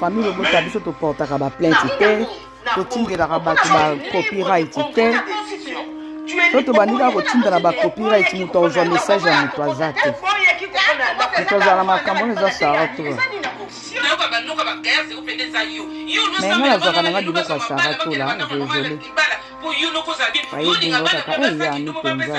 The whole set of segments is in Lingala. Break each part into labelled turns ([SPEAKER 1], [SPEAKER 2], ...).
[SPEAKER 1] famille lobota biso toportaka baplainte te totindelaka bato bacopyright te to tobandi kaka kotindela bacopyright moto akozwa message ya moto aza te moto azala na makambo wana eza sara tola me nga nazwaka nanga biloko ya sara tola desole ayebingo kaka eyani mpenza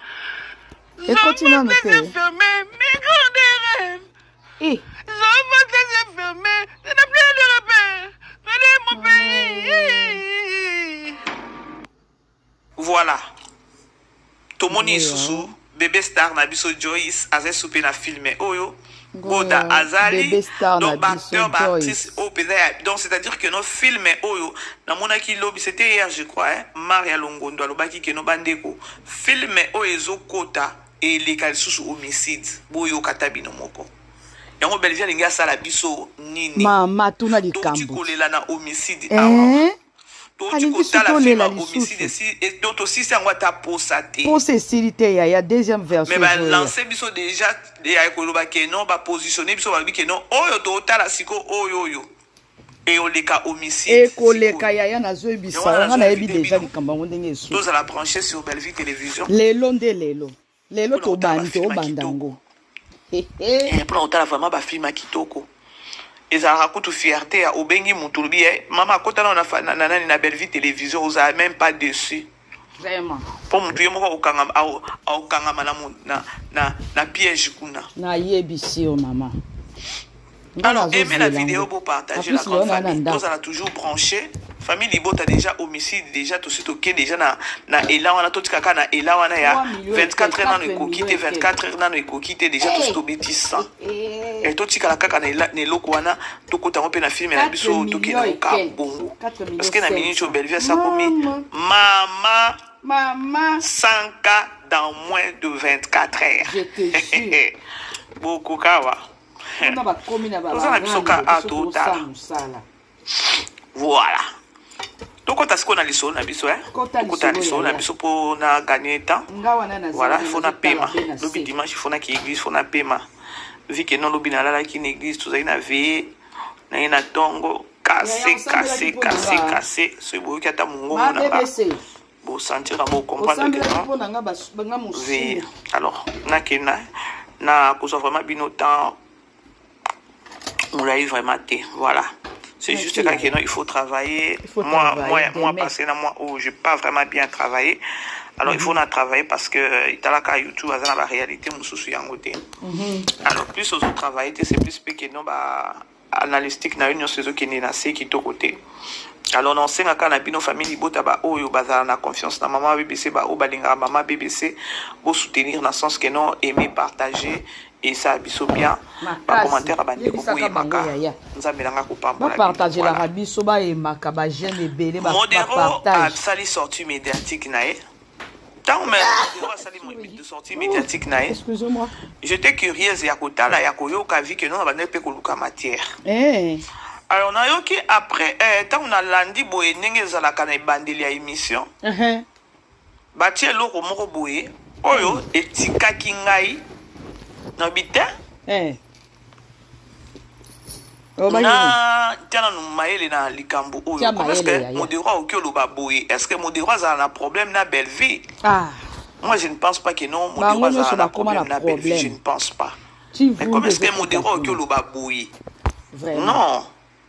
[SPEAKER 1] ekoti
[SPEAKER 2] nanu te eh.
[SPEAKER 3] voilà tomoni lisusu bebe star na biso joyce aza esupe na filme oyo Boda Azali, donc acteur, artiste, oh, donc c'est-à-dire que nos films oyo, na mona ki lobby, c'était hier je crois, hein, Maria Longondo alobaki que no bandeko, film oyo ezo kota et les sous homicide, boyo katabino moko. yango belvie alingi asala biso nini mama tuna likambo
[SPEAKER 1] tokolela na
[SPEAKER 3] homicide eh? awa
[SPEAKER 1] touti kotala film homicide esi donc
[SPEAKER 3] tosisi yango ata posa te posa esili te yaya
[SPEAKER 1] deuxième version mais balance biso
[SPEAKER 3] déjà ya koloba ke non bapositionne biso balobi ke non oyo totala siko oyo oyo eoleka homicide ekoleka yaya
[SPEAKER 1] nazoyebisa wana nayebi deja likambo yango ndenge esu tozala branche sur
[SPEAKER 3] bellevue télévision lelo nde lelo
[SPEAKER 1] lelo tobandi tobanda yango
[SPEAKER 3] mpona kotala vraiment bafilme ya kitoko ezalaka kutu fierté ya obengi moto olobi ye eh, mama akota nao na nani na bellevie télévision ozala même pas dessus vraiment
[SPEAKER 1] mpo motu ye moko
[SPEAKER 3] akokangama na, na, na, na piège kuna nayebisi
[SPEAKER 1] yo mama
[SPEAKER 3] Alors, aimez la vidéo, beau partager la grande famille. Tous à toujours branché. Famille Libota déjà homicide, déjà tout suite ok, déjà na na Ela wana tout kaka na Ela wana ya 24 heures na ko quitter 24 heures na ko quitter déjà tout suite obéti 100. Et tout kaka kaka na Ela ne loko wana tout kota pe na film na biso tout ki na ka bongo. Parce que na minute au Bellevue ça komi mama mama 100 cas dans moins de 24 heures. Je
[SPEAKER 1] te jure. Bokukawa.
[SPEAKER 3] kuna bakomi na toza na biso ka a totala mosala voilà tokota sikoyo na lisolo na biso eh? tokota lisolo na biso mpo na gagne temps voilà fo na pema lobi dimanche fo na ki église fo na pema vi ke non lobi nalalaki na église tozali na veye naye na ntongo kase kase kase kase soki boyoki ata mongongo na nga Bo sentir à bo comprendre que non. Pona nga ba nga musu. Oui. Alors, na kena na kozwa vraiment bino temps molai vraiment te voilà c'est juste okay. que non il faut travailler il faut moi travailler, moi demain. moi passé na moi où oh, j'ai pas vraiment bien travaillé alors mm -hmm. il mhm. faut na travailler parce que euh, italaka youtube aza na ba réalité mosusu yango te mhm. alors plus ozo travailler te c'est plus pe que non ba analystique na yo nyonso ezokende na se kitoko te alors na osenga kaka na bino famille libota baoyo bazala na confiance na mama bbc baoyo balingaka mama bbc bosoutenir na sens que non aime partage esala biso bien bacommentaire ya bandeko boyemaka nzambe nanga kopambolabapartagelaka
[SPEAKER 1] biso bayemaka bajeune ebele modero asali
[SPEAKER 3] sortie médiatique na ye ntango mayango asali sorti médiatique na ye j'étais
[SPEAKER 1] curieuse
[SPEAKER 3] ya kotala ya koyoka vi ke nona bandaki mpe koluka matière eh. alors nayoki après ntango eh, nalandi boye ndenge ezalaka na ebandeli ya émission uh-huh. batie eloko moko boye oyo etikaki ngai na bitin eh. Oh, na tya nanu mayele na likambo oyo parceke modero aoki oloba boye est ce que modero azala na problème na bellevie ah. moi je ne pense pas que non modero azala na problème na bellevie je ne pense pas mais comme est ce que modero aoki oloba boye non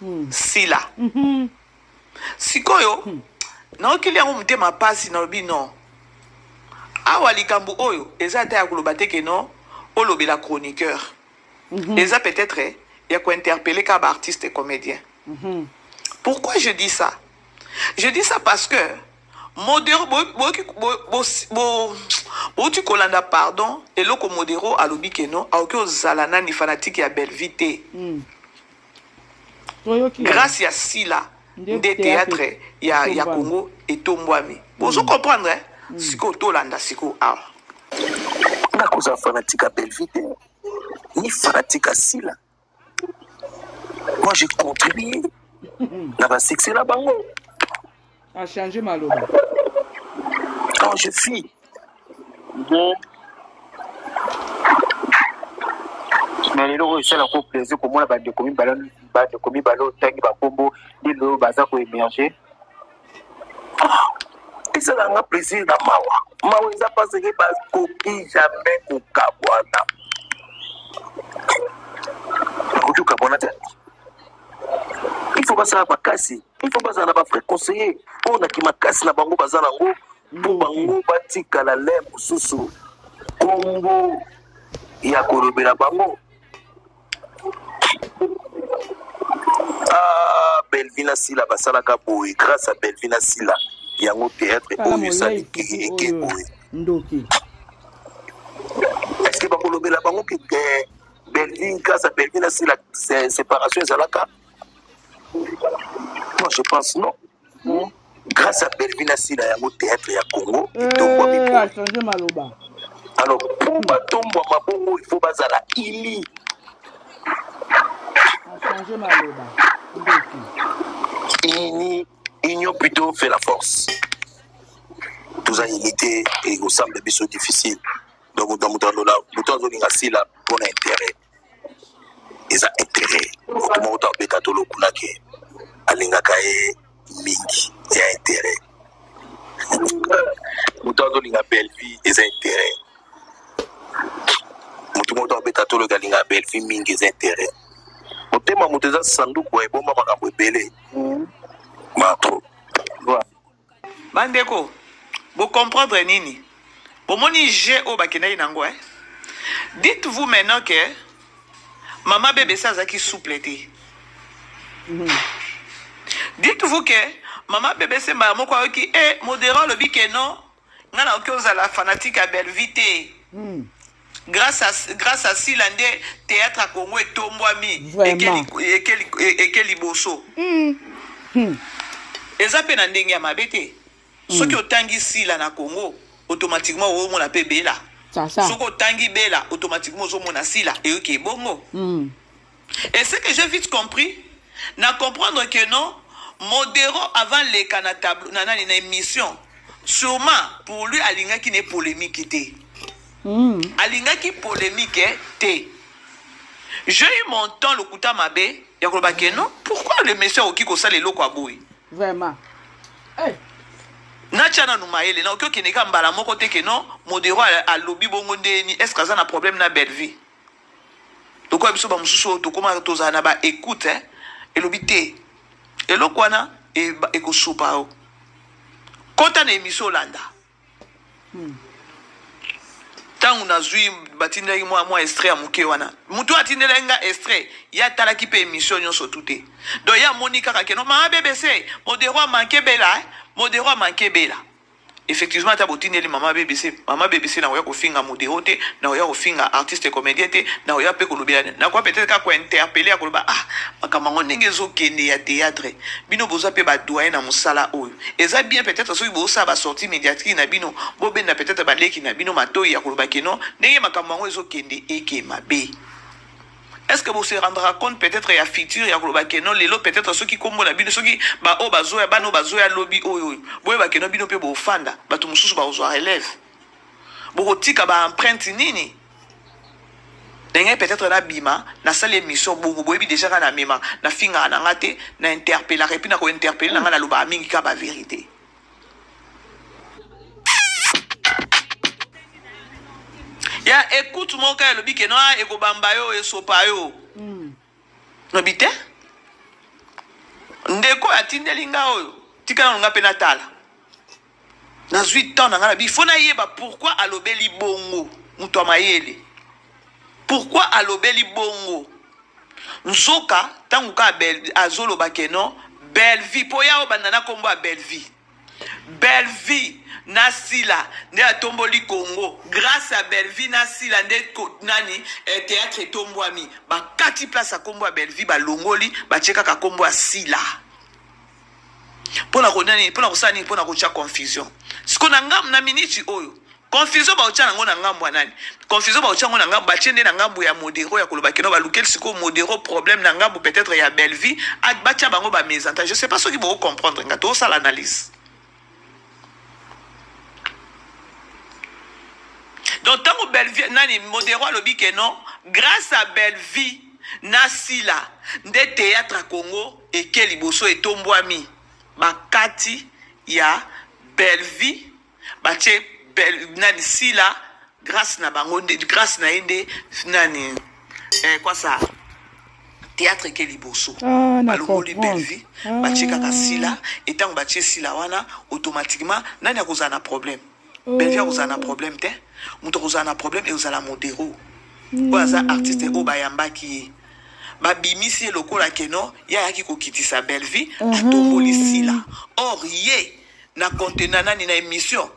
[SPEAKER 3] hmm. sila mm -hmm. sikoyo hmm. naokeli yango motema mpasi nalobi non awa likambo oyo eza ata ya koloba te keno olobela chroniqueur mm -hmm. eza peut-être eh, ya kointerpele ka baartiste comédien mm -hmm. pourquoi je dis ça je dis ça parce que modero boyoki bouti kolanda pardon eloko modero alobi keno aoki ozala nani fanatike ya bellevie te mm. grâce ya sila nde théâtre ya, ya congo etombwami mm. bozo comprendre eh? mm. sikoyo tolanda sikoyo awa ah.
[SPEAKER 4] nakozala fanatike ya bellevie te ni fanatike ya sila Moi, j'ai contribué dans la succès là bango. A
[SPEAKER 1] changé ma loi.
[SPEAKER 4] Quand je suis bon, na lelo oyo esala ko plaisir komona bandeko mibale bandeko mibale otangi bakombo lelo oyo baza koemerge ah, esala nga plaisir na mawa mawa eza paseke bakoki jamais kokabwana bakoki kokabwana te il faut basala makasi il faut bazala na bafrai conseiller oyo na kimakasi na bango baza nango mpo bango batikala le mosusu nkombo ya kolobela bango ah, belvina sila basalaka boye grâce à belvina sila yango théâtre oyo esali eke boye ndoki est ce que bakolobela bango ke belvin grâce à belvina sila séparation ezalaka moi je pense non hmm? grâce à Bellevue na Sila yango théâtre ya Congo eh, etombwami mpo changer maloba alors mpo batombwama bongo il faut bazala ili changer maloba ndoki ini union plutôt fait la force toza unité ekosambela biso difficile donc moto alola moto azolinga Sila mpo na intérêt eza intérêt moto moko to abeta to lokuna ke alingaka ye mingi ya intérêt moto azolinga bellevie eza intérêt moto moko to abeta to loki alinga bellevie mingi eza intérêt motema moto eza sanduku ya ebomba makambo ebele mm. mato
[SPEAKER 3] bandeko bocomprendre nini bomoni je oyo bakendaki nango eh? dites vous maintenant que mama bebe sa azalaki souple te mhm. dites vous que mama bebe se mbala moko ayoki e eh, modera alobi ke non ngai nakoki ozala fanatique ya bellevie te mm. grace à, grace à sila nde théâtre ya congo etombwami eke liboso mm. hmm. eza mpe na ndenge ya mabe te mm. soki otangi sila na congo automatiquement oomona mpe bela soki otangi bela automatiquement ozomona sila eyoki ebongo mm. Et ce que j'ai vite compris, na comprendre que non, Modero avant les na tableau, na nani na émission, sûrement pour lui alinga qui n'est polémique était. Mm. Alinga qui polémique était. J'ai eu mon temps le kuta mabé, ya koloba que non, pourquoi le monsieur oki ko sale loko aboy? Vraiment.
[SPEAKER 1] Hey.
[SPEAKER 3] natya nanu mayele na oki okende ka mbala moko te ke non modero alobi bongo ndeni est ce que aza na problème na bellevue lokola biso bamosusu oyo tokoma tozala na baecoute eh? elobi te eloko wana e, ekosopa yo kota na emisio olanda ntango hmm. nazwi batindaki mwa mwa estre ya moke wana motu oyo atindelaki nga estre ye atalaki mpe emisio nyonso tu te don ye amoni kaka keno maa bbc modero amanke bela eh? modero amanke bela effectivement ata botindeli mama bbc mama bbc nakoya kofinga modero te nakoya kofinga artiste comédien te nakoya mpe kolobela nakoya peut-être kaka kointerpele ya koloba ah makambo yango ndenge ezokende ya théâtre bino boza mpe badoyen na mosala oyo eza bien peut-être soki bosala basortie médiatrie na bino bobenda peut-être baleki na bino matoi ya koloba keno ndenge makambo yango ezokende eke mabe est-ce que vous se rendra compte peut-être ya futur ya koloba keno lelo peut-être soki kombo na bino soki baoyo bazoya bana oyo bazoya lobi oyo oyo boyeba keno bino mpe bofanda bato mosusu bakozwa relève bokotika baempreinte nini ndenge peut-être nabima nasali émission bongo boyebi déjà nga namema nafingaka na nga te na interpellaka epuis na kointerpelle na nga nalobaka mingi ka bavérité ya ekute moko kaka elobi ke noa ekobamba yo esopa yo hmm. lobi te ndeko oyo atindeli nga oyo tika nano nga mpe natala nazwi temps na nga na bi fo nayeba pourkui alobeli bongo moto ya mayele pourquoi alobeli bongo nzoka ntango kaka azoloba ke non bellevie mpo ya obanda na nkombo ya bellevie bellevie na sila nde atomboli congo grâce ya bellevie na sila nde nani eh, théâtre etombwami bakati place ya nkombo ya bellevie balongoli batie kaka nkombo ya sila mpo na konia nini mpo na kosala nini mpo na kotya confusion siko na ngambo na miniti oyo confusion baotya nango na ngambo ya nani confusion baotya yango na ngambo batye nde na ngambo ya modero ya koloba keno balukeli sikoyo modero problème na ngambo peut-être ya bellevie batya bango bamesanta je sais pas soki boko comprendre nga tosala analyse donc ntango bellevie nani modero alobi ke non grâce à bellevie na sila nde théâtre ya congo eke liboso etombwami bakati ya bellevie batie bel, nani sila grâce na bango nde grâce na ye nde nani eh, kwasa théâtre eke liboso ah, balongoli bellevue ah. batie kaka sila e ntango batie sila wana automatiquement nani akozala na problème oh. bellevue akozala na problème te moto akozala na problème ekozala modero hmm. oyo aza artiste oyo bayambaki ye babimisi ye lokola keno ye ayaki kokitisa bellevue ah. atomboli sila or ye na compte na nani na émission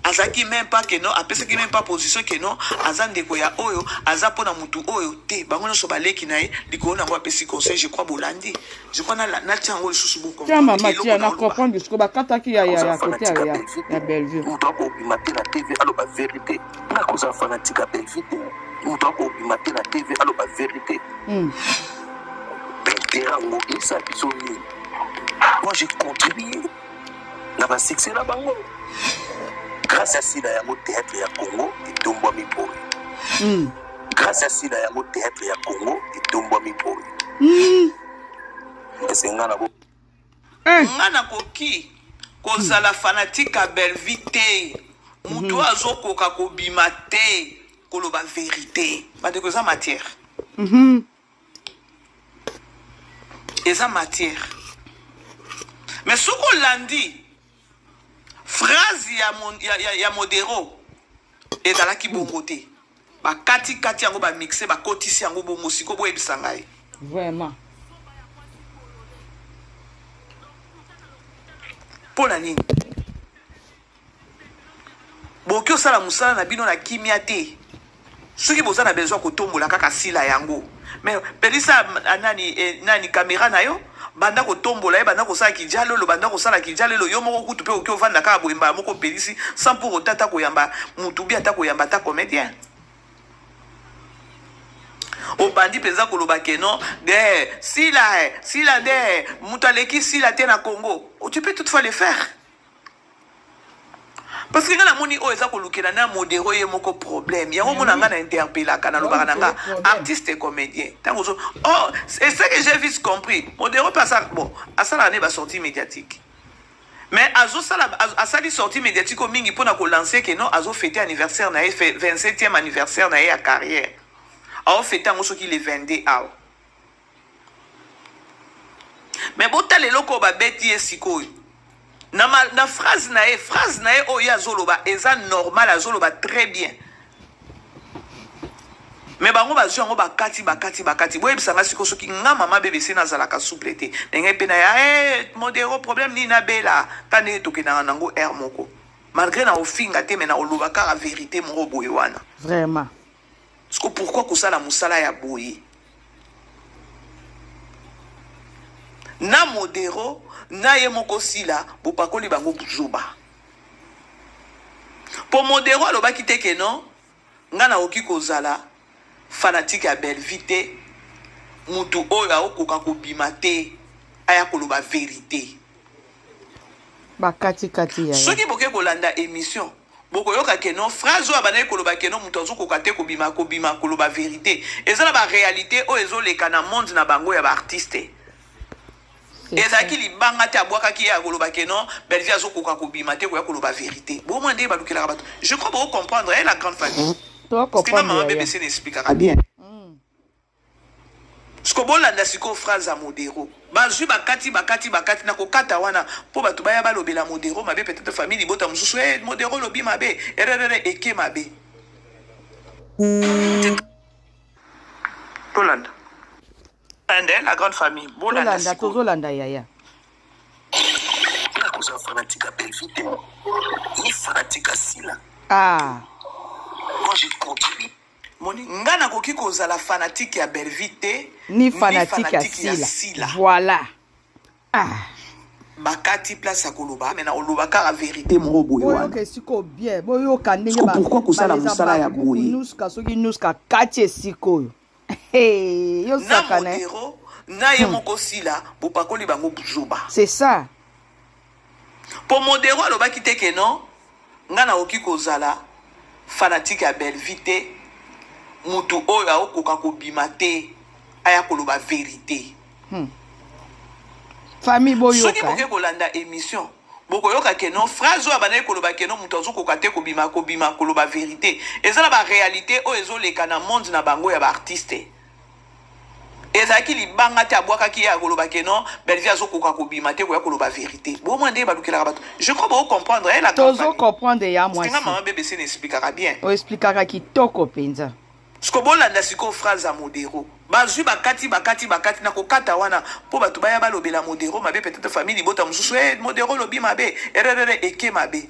[SPEAKER 3] azalaki même pas que non apesaki même pas position que non aza ndeko ya oyo aza mpo na motu oyo te bango nyonso baleki na ye likolo na yango apesi conseil je crois bolandi je crois natya yango lisusu botia mama tia na
[SPEAKER 1] comprendre lisusu bakataki ya ya ya kote ya ya bellevue moto akobima te na
[SPEAKER 4] tv aloba verité nakoza fanatique ya bellevue te moto akobima te na tv aloba verité hmm. intera yango esa biso nini moi j'ai contribué na ba succès na bango grâce ya sila yango théâtre ya congo etombwami boye mm. grâce ya sila yango théâtre ya congo etombwami boye mm. ese nga na bo eh. nga
[SPEAKER 3] nakoki kozala hmm. fanatike ya belvi te moto hmm. oyo azokoka kobima te koloba verité bandeko eza matière mm -hmm. eza matière mais soki olandi phrase ya, mon, ya, ya, ya modero ezalaki bongo te bakatikati yango bamixe bakotisi yango bongo siko boyebisa ngai vraiment mpo na nini bokoki osala mosala na bino na kimia te soki boza na besoin kotombola kaka sila yango me pelisa nani, eh, nani kamera na yo banda kotombola ye banda kosala kijalelo banda kosala kijalelo yo moko kutu mpe okoki ovanda kaka boye mbala moko opelisi sans pour autant ata koyamba motu bi ata koyamba ata comédien obandi mpenza koloba ke non de sila sila de moto aleki sila te na congo tu peux toutefois le faire parce que nga namoni oyo eza kolukela na modero ye moko problème yango mona nga na interpellaka nalobaka na nga artiste et comédien ntango ozo oh c'est ce que j'ai vite compris modero mpe asala bon asalaka ne basortie médiatique mais azosala asali sortie médiatique oyo mingi mpona kolancer ke non azofete anniversaire na ye 27e anniversaire na ye ya carrière aofete yango soki le 22 awa me botala eloko oyo babeti ye sikoyo na, ma, na phrase na ye phrase na ye oyo ye azoloba eza normal azoloba très bien me bango bazwi yango bakati bakati bakati boyebisa nga siko soki nga mama bbc nazalaka souple te ndenge mpe naya hey, eh, modero problème nini nabela ta ndenge tokendaka nango aire moko malgré na ofinga te me na oloba kaka verité moko boye wana vraiment
[SPEAKER 1] Siko
[SPEAKER 3] pourquoi kosala musala ya boye? Na modero na ye moko sila bopakoli bango buzoba. Po modero alobaki te que non nga nakoki kozala fanatique ya Bellevue te mutu oyo aokoka kobima te aya koloba verite. Bakati
[SPEAKER 1] kati ya. Soki boke kolanda
[SPEAKER 3] emission bokoyoka keno phrase oyo abandaki koloba keno moto azokoka te kobima kobima koloba verité eza na baréalité oyo ezoleka na monde na bango ya baartiste ezalaki libanga te abwakaki ye akoloba keno bellevie azokoka kobima te koya koloba verité bomwa nde balukelaka bato je crois boko comprendre ye la grande famille stima mama bebesene explikaka bien siko bolanda sikoyo phrase ya modero bazwi bakati bakati bakati na kokata wana mpo bato baya balobela modero mabe peut-être famille libota mosusu e eh, modero olobi mabe ererere eke mabe tolanda ande la grande famille bolanda tozolanda yaya
[SPEAKER 1] nakozala
[SPEAKER 4] fanatique ya bellevue te ni fanatique ya sila ah. moi je continue Moni, nga
[SPEAKER 3] nakoki kozala fanatique ya Bellevue te ni fanatique
[SPEAKER 1] ya Sila. Sila. Voilà. Ah.
[SPEAKER 3] bakati place ya koloba me na oloba kaka verité moko boye wanaoyoka esiko bien
[SPEAKER 1] boyoka ndenge pourkui kosala mosala
[SPEAKER 3] ya boye nuska soki nuska
[SPEAKER 1] kati esikoyo yosakana na ye
[SPEAKER 3] hmm. moko sila bopakoli bango buzoba c'est ça Po modero alobaki te que non nga nakoki kozala fanatique ya Bellevue te mutu oyo akokoka kobima te aya koloba verite hmm.
[SPEAKER 1] famille boyoka soki boke eh? kolanda
[SPEAKER 3] émission bokoyoka ke non phrase oyo abandaki koloba ke non moto azokoka te kobima kobima koloba verité eza na baréalité oyo ezoleka na monde na bango ya baartiste ezalaki libanga te abwakaki ye akoloba ke non bellevie azokoka kobima te koya koloba verité boma nde balukelaka bato je crois bocomprendre ye tozo comprendre ya
[SPEAKER 1] mwasisinga mama bbc na explikaka
[SPEAKER 3] bien oexplikaka kitoko
[SPEAKER 1] mpenza siko bolanda
[SPEAKER 3] sikoyo phrase ya modero bazwi bakati bakati bakati na kokata wana mpo bato baya balobela modero mabe peut-être famille libota mosusu e eh, modero olobi mabe ererere eke mabe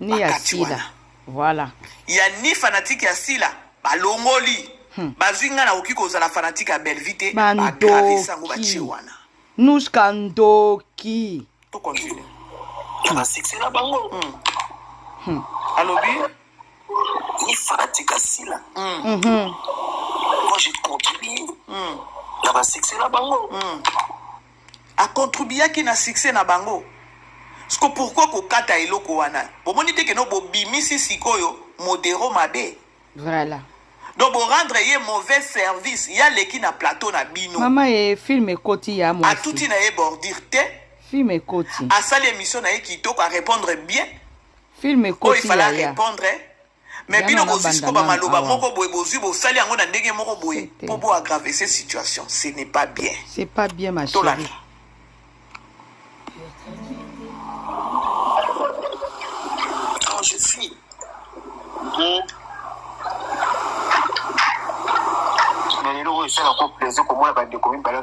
[SPEAKER 3] ni ya
[SPEAKER 1] sila voilà ya ni
[SPEAKER 3] fanatique ya sila balongoli hmm. bazwi ngai nakoki kozala fanatique ya bellevie te bagravisa yango batie wana nuska
[SPEAKER 1] ndoki tokontinue
[SPEAKER 3] ya basuccès
[SPEAKER 4] na bango hmm. hmm.
[SPEAKER 3] alobi
[SPEAKER 4] ni fanatique ya sila hmm. mm -hmm. moi je continue hmm. na basuccès na bango hmm.
[SPEAKER 3] a contribuaki na succès na bango siko pourquoi kokata eloko wana bomoni te keno bobimisi sikoyo modero mabe voilà
[SPEAKER 1] donc borendre
[SPEAKER 3] ye mauvais service ye aleki na plateau na bino mama ye film
[SPEAKER 1] ekoti ya mwasi atuti na ye bordire
[SPEAKER 3] te film ekoti
[SPEAKER 1] asali émission na ye
[SPEAKER 3] kitoko arépondre bien film ekoti
[SPEAKER 1] oyo ifala arépondre
[SPEAKER 3] me bino bozwi siko bamaloba moko boye bozwi bosali yango na ndenge moko boye mpo bo agrave ce situation ce n'est pas bien c'est pas bien ma chérie quand je
[SPEAKER 1] suis
[SPEAKER 4] na lelo oyo esalako plaisir komona bandeko mibale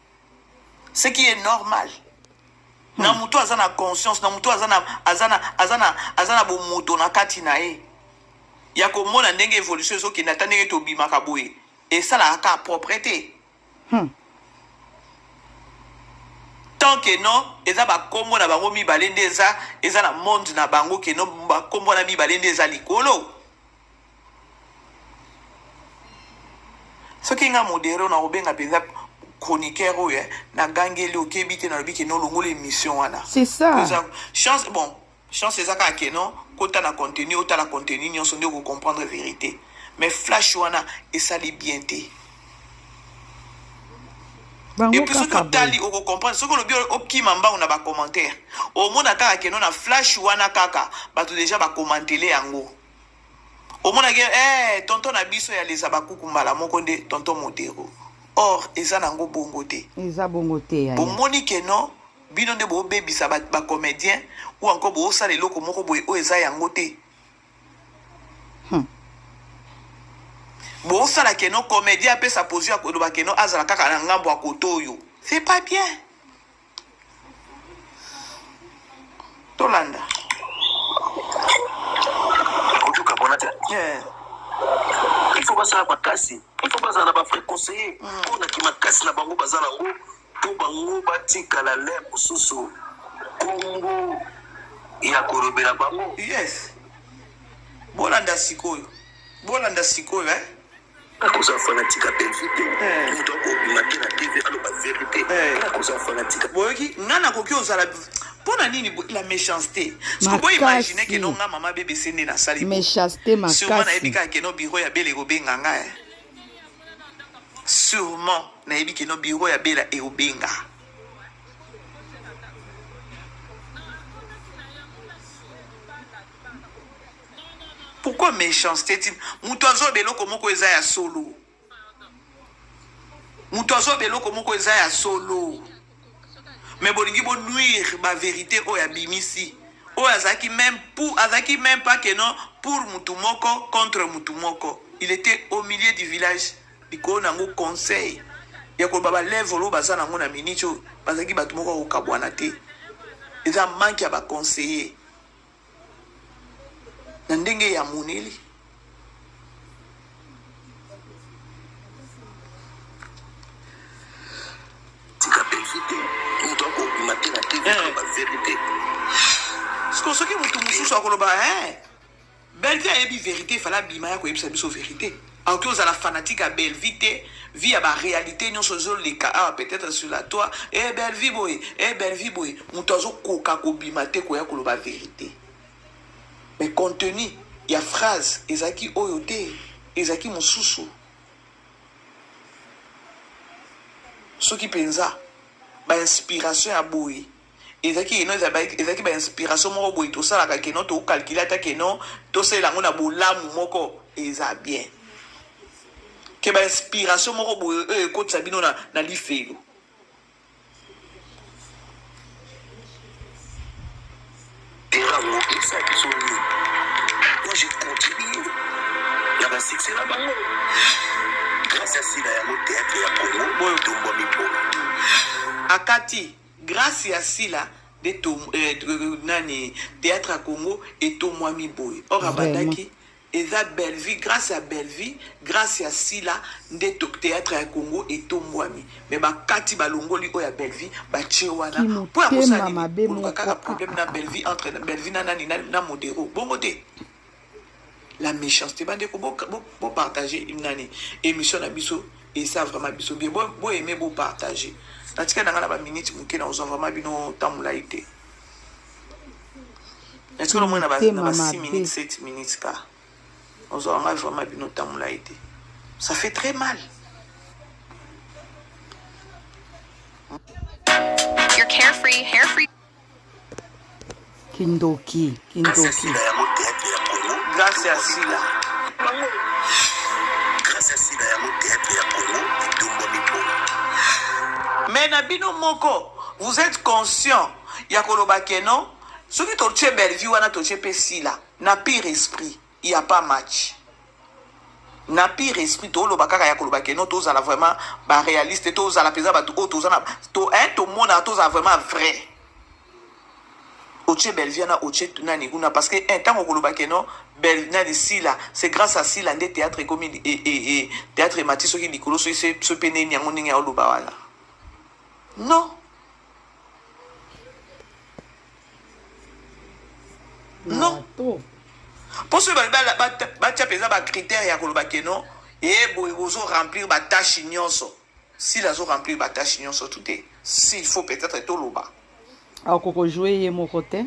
[SPEAKER 3] ce qui est normal hmm. na moto aza na conscience na moto aza na aza na aza na aza na bomoto na kati na ye ya komona ndenge évolution ezokende ata ndenge tobimaka boye esalaka ka propre te hmm. tant que non eza bakombo na bango mibale nde eza eza na monde na bango ke no bakombo na mibale nde eza likolo soki nga modere na kobenga mpenza chroniqueur oyo eh, nagangeli okebi te nalobi ke nolongola émission wana c'est ça
[SPEAKER 1] chance bon
[SPEAKER 3] chance eza kaka ke non kota na contenu otala contenu nyonso nde okocomprendre vérité mais flash wana esali bien te epuis soki otali okocomprendre soki olobi okima mbango na bacommentaire omona kaka keno na flash wana kaka bato deja bakomantele yango omonaki eh, tonton na biso ya leza bakuku mbala moko nde tonton modero or eza nango bongo te eza bongo te yaya
[SPEAKER 1] bomoni ke non
[SPEAKER 3] bino nde bobebisa bacomédien ba ou encore bosala eloko moko boye oyo eza yango te hmm. bosala keno comédien apesa pozio ya koloba keno azala kaka na ngambo ya koto oyo c'est pas bien tolanda
[SPEAKER 4] kotuka mpona te yeah. il faut basala makasi il faut bazala na bafrai conseiller mpona mm. kimakasi na bango baza nango mpo bango batikala le mosusu nkombo ya kolobela bango yes
[SPEAKER 3] bolanda sikoyo bolanda sikoyo eh?
[SPEAKER 4] nakoza fanatique ya bellevue te eh. moto akobima te na tv aloba verité eh. nakoza fanatique boyoki nga nakoki
[SPEAKER 3] ozala mpo na nini la méchanceté sikoboy imagine ke no nga mama bbc nde nasali méchanceté makasi sûrement
[SPEAKER 1] nayebi kaka keno
[SPEAKER 3] biro ya bele ekobenga nga eh. sûrement nayebi keno biro ya bela ekobenga pourquoi méchanceté ti moto azoba eloko moko eza ya solo moto azoba eloko moko eza ya solo mais bolingi bonuire baverité oyo abimisi oyo azalaki même pour azalaki même pas que non pour motu moko contre motu moko il était au milieu du village likolo na yango conseil ya koloba balevre oyo baza na yango na miniti oyo bazalaki bato moko ya kokabwana te eza manke ya baconseiller na ndenge ya moneli
[SPEAKER 4] tika mpenzi te moto akobima te na te eh. baverité
[SPEAKER 3] siko soki moto mosusu akoloba eh, belvi ayebi verité fala abima ya koyebisa biso verité Aoki ozala fanatique ya Bellevue te, vie ya ba realite nyonso ezo leka awa peut-être sur la toi, eh Bellevue boye, eh Bellevue boye, moto azo koka kobima te koya koloba verite. Mais contenu ya phrase ezalaki oyo te, ezalaki mosusu. Soki penza ba inspiration ya boye ezalaki keno ezalaki ba inspiration moko boye tosalaka keno tocalcule ata keno tosalela yango na bolamu moko eza bien ke ba inspiration moko boye oyo euh, ekotisa bino na, na lifelo
[SPEAKER 4] erakokisa biso nini po je continue na basuccès na bango grâce ya sila yango théâtre ya congo oyo tombwami po
[SPEAKER 3] akati Grace ya sila de to eh, nani théâtre ya Congo etomwami boye or abandaki eza bellevue grâce ya bellevue grâce ya sila nde théâtre ya congo etombwami me bakati balongoli oyo ya bellevue batie wana mpo ya kosalakaka problème na bellevue entre bellevue na nani na modero bongo te la méchanceté bandeko bopartage bo, bo nani émission na biso esa vraiment biso bien boaime bo bopartage natika na ngai na baminute moke na kozwa vraiment bino ntango molai te natika na moi na ba 6 minutes 7 minutes ka ozwa ngai vraiment bino ntango molai te ça fait très mal You're
[SPEAKER 5] carefree, hair free.
[SPEAKER 1] kindoki kindoki
[SPEAKER 3] grâce ya sila grâce ya sila yango théâtre ya congo etombwami po mais na bino moko vous êtes conscient ya koloba ke non soki totie bellevue wana totie mpe sila na pire esprit il y a pas match na pire esprit toloba kaka ya koloba keno tozala vraiment baréaliste tozala mpenza bato oyo toza na to un tomonaka tozala vraiment vrai otie belvia na otie nani kuna parce que un ntango okoloba keno bel nani sila c'est grâce à sila nde théâtre ekomi e, e, e, théâtre emati soki likolo soki so mpe neni yango ndenge ya oloba wana non non mpo soki batya mpenza bacritère ya koloba ke non ye boye bozo remplir batâche nyonso sila azo remplir batâche nyonso tu te s'il faut peut-être toloba akoko
[SPEAKER 1] joue ye moko te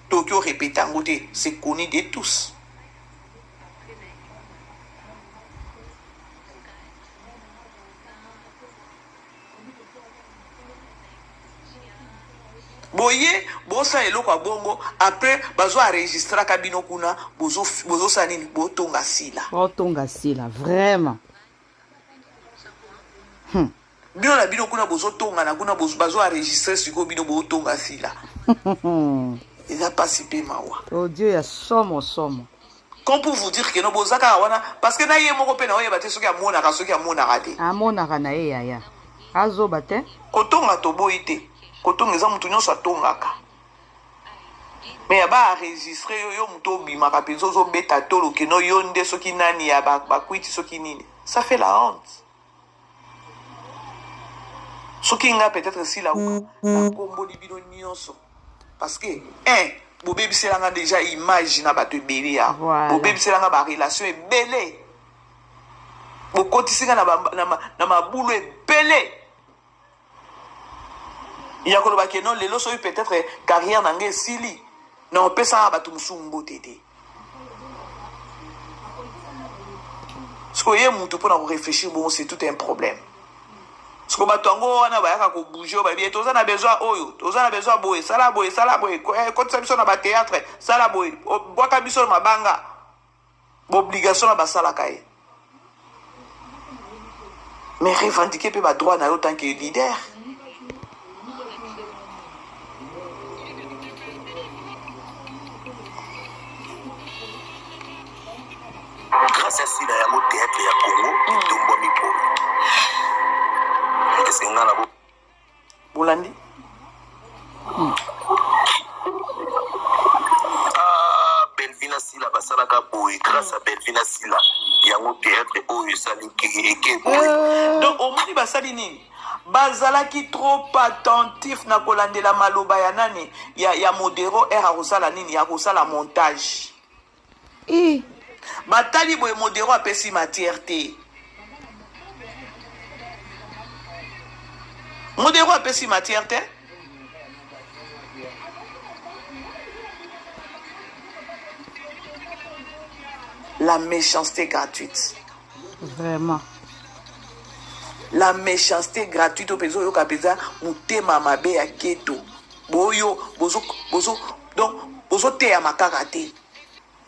[SPEAKER 1] toki
[SPEAKER 3] orepete yango te c'est connu de tous boye bosala eloko ya bongo après bazo enregistraka bino kuna bozosala nini botonga sila botonga sila
[SPEAKER 1] vraiment hmm.
[SPEAKER 3] bino na bino kuna bozotongana kuna bazo enregistre sikoyo bino botonga sila eza mpasi mpe mawa odio oh, ya somo
[SPEAKER 1] somo Comme
[SPEAKER 3] pour vous dire que no boza kaka wana parce que na ye moko pe na oyeba te soki amonaka soki amonaka te. Amonaka na ye yaya.
[SPEAKER 1] Azoba te. Kotonga toboyi
[SPEAKER 3] te. Kotonga eza mutu nyonso atongaka. me ya baaregistre yo yo moto obimaka mpenza ozobeta tolo keno yo nde soki nani ya bakwiti soki nini ça fait la honte soki nga peut-être si la uka na komboli bino nyonso parce que un bobebisela nga déjà image na bato ebele ya bobebisela nga barelation ebele bokotisi nga na mabulu ebele ya koloba ke non lelo soki peut-être carrière na ngai esili na opesaka bato mosusu mbote te sikoyo ye motu mpo na korefléchir bongo c'est tout un problème siko bato yango wana bayaka kobouge oyo bayebi toza na besoin oyo toza na besoin boye sala boye sala boye eh, kotisa biso na bateatre sala boye bwaka biso na mabanga baobligation na basalaka ye mais revendiquer mpe badroit na yo tant que leader
[SPEAKER 4] grâce ya sila yango théâtre ya congo etombwami polo esenga na bolandi
[SPEAKER 3] hmm.
[SPEAKER 4] ah, belvina sila basalaka boye grâce ya belvina sila yango théâtre oyo esali eke boye euh. donc
[SPEAKER 3] omoni basali nini bazalaki trop attentif na kolandela maloba ya nani ya, ya modero r akosala nini ya kosala montage Eh. Batali boye modero apesi matière te. Modero apesi matière te. La méchanceté gratuite. Vraiment. La méchanceté gratuite au peso yoka pesa mutema mabe ya keto. Boyo bozo bozo donc bozoteyama kaka te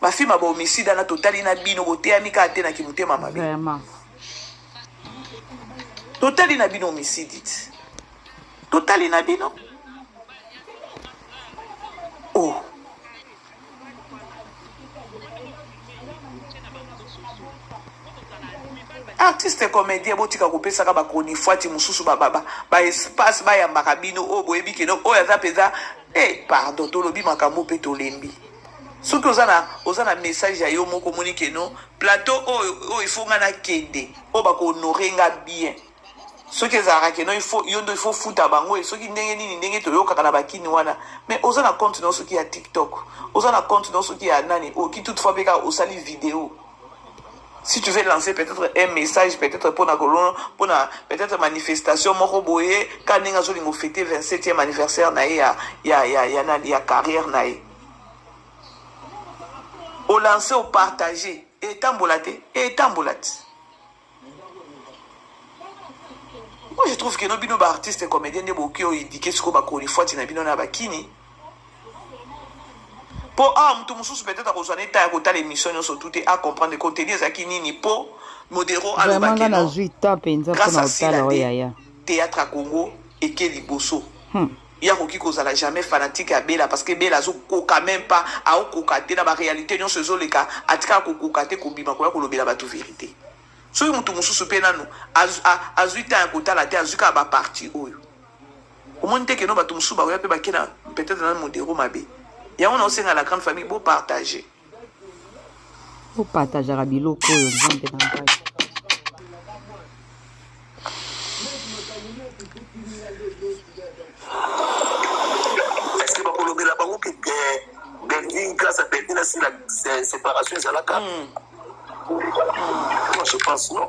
[SPEAKER 3] bafilme ya baomisida na totali na bino boteyami kaka te na kimotema mabe totali na bino omisidi
[SPEAKER 1] ti
[SPEAKER 3] totali na bino o oh. artiste comédien botika kopesaka bacronifuati mosusu baespace bayambaka bino oyo boyebi keno oyo aza mpenza Eh, pardon, tolobi makambo pe tolembi. Soki oza na oza na message ya yo moko moni ke non, plateau oyo oyo il faut nga na kende, oyo ba ko honorer nga bien. Soki ezalaka ke non, il faut yo ndo il faut futa bango, soki ndenge nini ndenge toyokaka na bakini wana. Mais oza na compte na soki ya TikTok, oza na compte na soki ya nani, oki toutefois pe ka osali video. si tu veux lancer peut-être un message peut-être mpona kolona mpona peut-être manifestation moko boye ka ndenge azolinga ofete 27e anniversaire na ye ya, ya, ya, ya, ya, ya carrière na ye olanse opartage etambola te etambola te moi je trouve que no bino baartiste comédien nde boki oyo indike sikoyo bakolifwati na bino na bakini mpo awa ah, moto mosusu peut-être akozwa na eta ya kotala émission nyonso tu te acomprendre contenu ezalaki nini mpo modero alobaki nazwi temps mpenza mpona kotala oyo
[SPEAKER 1] yaya
[SPEAKER 3] théâtre ya congo eke
[SPEAKER 1] liboso
[SPEAKER 3] hmm. ye akoki kozala jamais fanatique ya bela parce que bela azokoka même pas aokoka te na baréalité nyonso ezoleka atikala kokoka te kobima koya kolobela bato vérité soki moto mosusu mpe nano azwi ntan ya kotala te azwi kaka baparti oyo omoni te keno bato mosusu bakoya mpe bakena peut-être na modero mabe yango na osenga la grande famille bopartage
[SPEAKER 1] opatajaka biloko oyo nzambe na ngai
[SPEAKER 4] eske bakolobela bango ke belvin grâce à belvin asila séparation ezalaka hmm. moi je pense non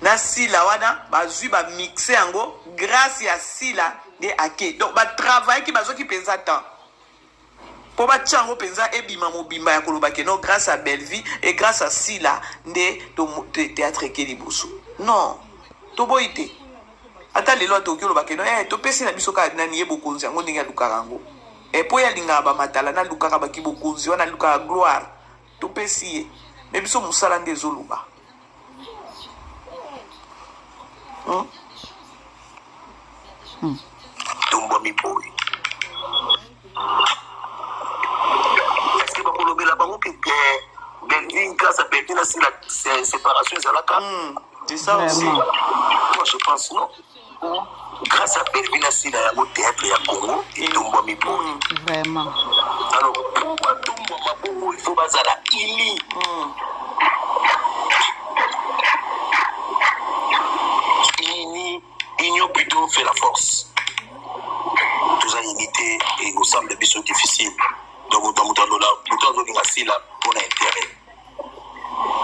[SPEAKER 3] na sila wana bazwi bamixe yango grâce ya sila nde ake donc batravaillaki bazwaki mpenza temps mpo batya yango mpenza ebima mobimba ya koloba keno grâce à bellevie et grâce à sila nde théâtre eke liboso non toboyi te ata lelo atoki oloba keno e eh, topesi na biso kaka nani ye bokonzi yango ndenge alukaka yango epo eh, ye alingaka bamatala nalukaka bakibokonzi wana alukaka gloire topesi ye me biso mosala nde ezoloba
[SPEAKER 4] hmm? hmm. tombomi boye eske bakolobela bango ke belvin grâce à belvin asila séparation ezalaka hmm, c'est ça aussi
[SPEAKER 3] moi
[SPEAKER 4] je pense non grâce à Bellevue na Sila yango théâtre ya Congo etombwami boye. Vraiment.
[SPEAKER 1] Alors
[SPEAKER 4] pour batombwama bongo il faut bazala ili. Mm. Ini union plutôt fait la force. Toza unité et ensemble biso difficile. Donc moto azolinga Sila mpo na intérêt.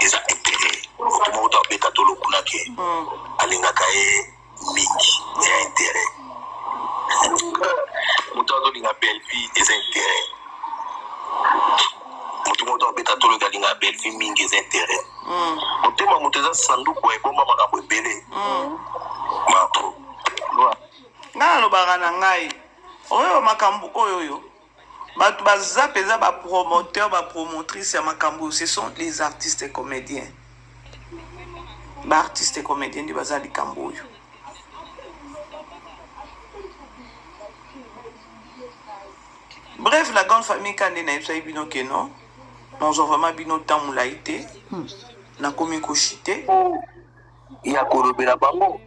[SPEAKER 4] eza intérêt moto moko to abeta to lokuna ke mm. alingaka ye mingi eza intérêt moto azolinga bellevie eza intérêt moto moko to abeta to loki alinga bellevie mingi eza intérêt mm. motema moto eza sanduku ebomba makambo ebele mm. mapo
[SPEAKER 3] nalobaka na ngai oyo makambo oyo oyo Bato baza mpenza ba promoteur ba promotrice ya makambo oyo ce sont les artistes et comédiens ba artistes et comédiens nde baza likambo oyo bref la grande famille ka nde nayebisaki bino ke non nazwa vraiment bino ntango molai te nakomi koshite
[SPEAKER 4] ya kolobela bango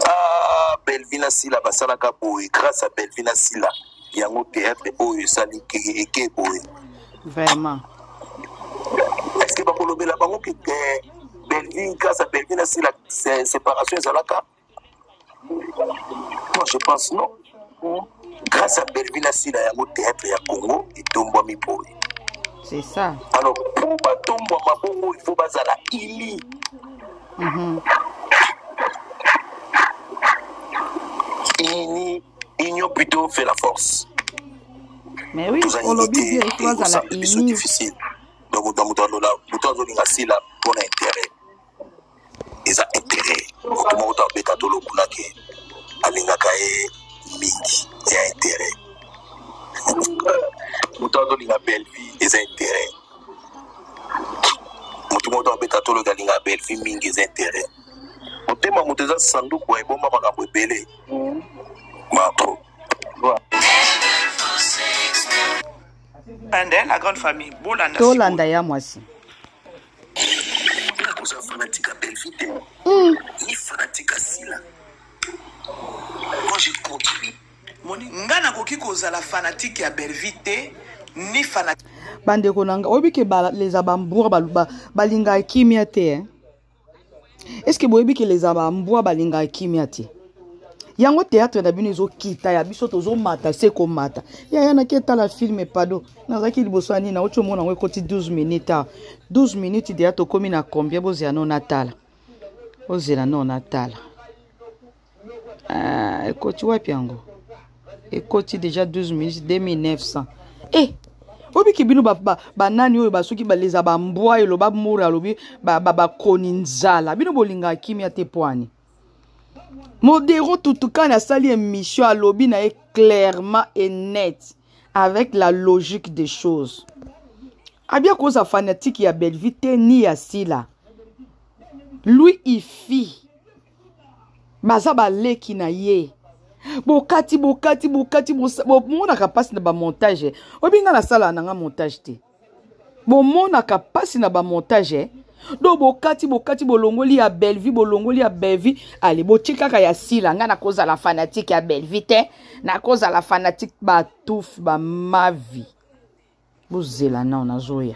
[SPEAKER 4] ah, belvina sila basalaka boye grâce à belvina sila yango théâtre oyo esali eke boye vraiment est ce que bakolobela bango ke belvine grâce à belvina sila séparation ezalaka Moi, je pense non. Grâce à Bellevue na Sila yango théâtre ya Congo etombwami boye. C'est ça.
[SPEAKER 1] Alors, pour
[SPEAKER 4] batombwama bongo, il faut bazala ili. Mm -hmm. Ini, union plutôt fait la force.
[SPEAKER 1] Mais oui, on l'a dit, il
[SPEAKER 4] faut bazala ini. Donc, moto azolinga Sila mpo na intérêt. eza intérêt moto moko to abeta to lokuna ke alingaka ye mingi ya intérêt moto azolinga belle vie eza intérêt moto moko to abeta to loki alinga belle vie mingi eza intérêt motema moto eza sanduku ya ebomba makambo ebele mm. marco
[SPEAKER 3] tolanda ya
[SPEAKER 1] mwasi
[SPEAKER 4] oza fanatique ya bellevue te hmm. ni fanatique ya sila moi je continue moni nga
[SPEAKER 3] nakoki kozala fanatique ya bellevue te ni fanatique bandeko na nga
[SPEAKER 1] oyebi ke baleza bamboura balingaka kimia te eh? est ce que boyebi ke leza bambwa balingaka kimia te yango théâtre na bino ezokita ya biso tozomata se komata yaya naki etala filme pado nazalaki liboso ya nini nauti omona yango ekoti 12 minute a 12 minute deya tokómi na combien bozela no natala ozela no natala ah, ekoti wapi yango ekoti déjà 12 minutes 2900 eh obiki bino banani ba, ba oyo basoki baleza bambwa eloba mura alobi bakoni ba, ba nzala bino bolingaka kimia te pwani modero tutukani asali émission alobi na ye clairement et net avec la logique des choses abia koza fanatique ya bellevue te ni ya sila lui ifi baza baleki na ye bokati bokati bokati bomonaka mpasi na bamontage oyebi ngai nasalaka na ngai montage te bomonaka mpasi na bamontage do bokati bokati bolongoli ya bellevue bolongoli ya bellevue ale botie kaka ya sila ngai nakozala fanatike ya bellevue te nakozala fanatike batufi bamavi bozela nao nazoya